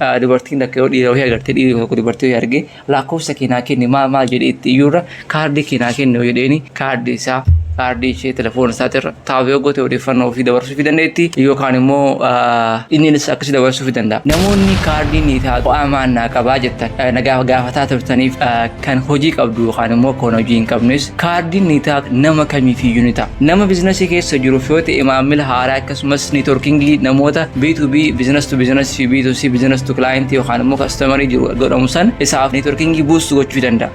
Ah, dubartiin takka yoo dhiira wahii agartee dhiirri tokko dubartii wahii argee lakkoofsa kee naa kenni maal maal jedhee itti iyyuurra kaardii kee naa kenni yoo jedheeni kaardii isaa kaardii ishee telefoona isaatirra taa'u yoo goote odeeffannoo ofii dabarsuu fi dandeetti yookaan immoo ah, inniinis akkasii dabarsuu fi danda'a. Namoonni kaardii ni taatu amaan naa qabaa jettan ah, na gaafa- gaafataa turtaniif ah, kan hojii qabdu yookaan immoo kan hojii hin qabnes kaardiin niitaak nama kamiifiyyuu ni ta'a. Nama biizinasii keessa jiruuf yoo ta'e maamila haaraa akkasumas niitworkingii namoota B2B biizinas to biizinas fi B2C biizinas to client yookaan immoo kastamarii jiru godhamu san isaaf niitworkingii buustu gochuu danda'a.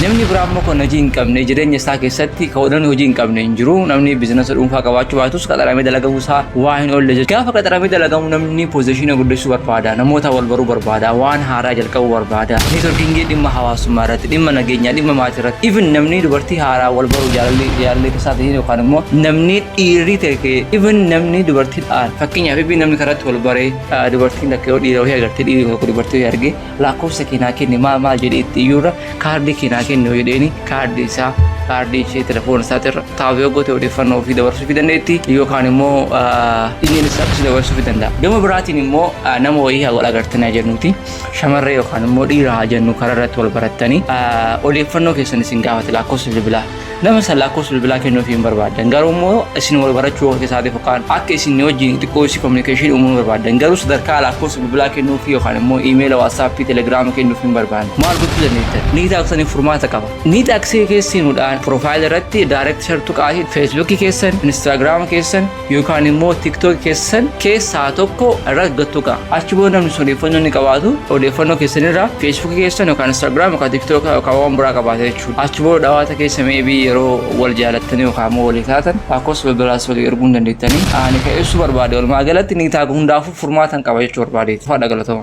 Namni biraa immoo kan hojii hin qabne jireenya isaa keessatti kan namni hojii hin qabne hin jiru. Namni biizinasa dhuunfaa qabaachuu baatus qaxaramee dalagamuu isaa waa hin oolle jechuudha. Gaafa qaxaramee dalagamu namni Inni poozishiina guddisuu barbaada, namoota wal baruu barbaada, waan haaraa jalqabuu barbaada. Neetworkiingii dhimma hawaasummaa irratti, dhimma nageenyaa, dhimma maatii irratti. Even namni dubartii haaraa wal baruu jaalalli jaalallee keessaa ta'in yookaan immoo namni dhiirri ta'e even namni dubartiidhaan fakkeenyaaf even namni karaatti wal baree dubartiin takka yoo dhiira wahii agartee dhiirri tokko dubartii wahii argee Lakkoofsa kee naa kenni maal maal jedhee itti iyyuurra kaardii kee naa kenni yoo jedheeni kaardii isaa kaardii ishee telefoona isaatirra taa'u yoo goote odeeffannoo ofii dabarsuu fi dandeetti yookaan immoo imeeli isaa akkasii dabarsuu fi danda'a. Gama biraatiin immoo ah, nama wayii haa wal agartan haa jennuuti shamarree yookaan immoo dhiira haa jennu karaa irratti wal barattanii ah, odeeffannoo keessan isin gaafate lakkoofsa bilbilaa Nama san lakkoofsa bilbilaa kennuu ofii hin barbaadan garuu immoo isin wal barachuu of keessaa ta'e fakkaan akka isin wajjin xiqqoo isii kominikeeshinii uumuu barbaadan garuu sadarkaa lakkoofsa bilbilaa kennuu fi yookaan immoo iimeela waatsaappii telegiraama kennuu hin barbaadne maal gochuu dandeettan ni taaksanii furmaata qaba ni taaksii keessuudhaan piroofaayilii irratti daayireekti shartu qaasii feesbuukii keessan inistaagiraama keessan yookaan immoo tiktok keessan keessaa tokko irra gattuqa achi booda namni sun odeeffannoo ni qabaatu odeeffannoo keessan irraa feesbuukii keessan yookaan instaagiraam yookaan tiktok yookaan waan biraa qabaata jechuudha achi booda dhawaata keessa meebii yeroo wal jaalattanii yookaan immoo walii taatan lakkoofsa bilbilaas walii erguu hin dandeettanii ani kan ibsu barbaade walumaa galatti ni taaga hundaafuu furmaatan qaba jechuu barbaade faadha galatama.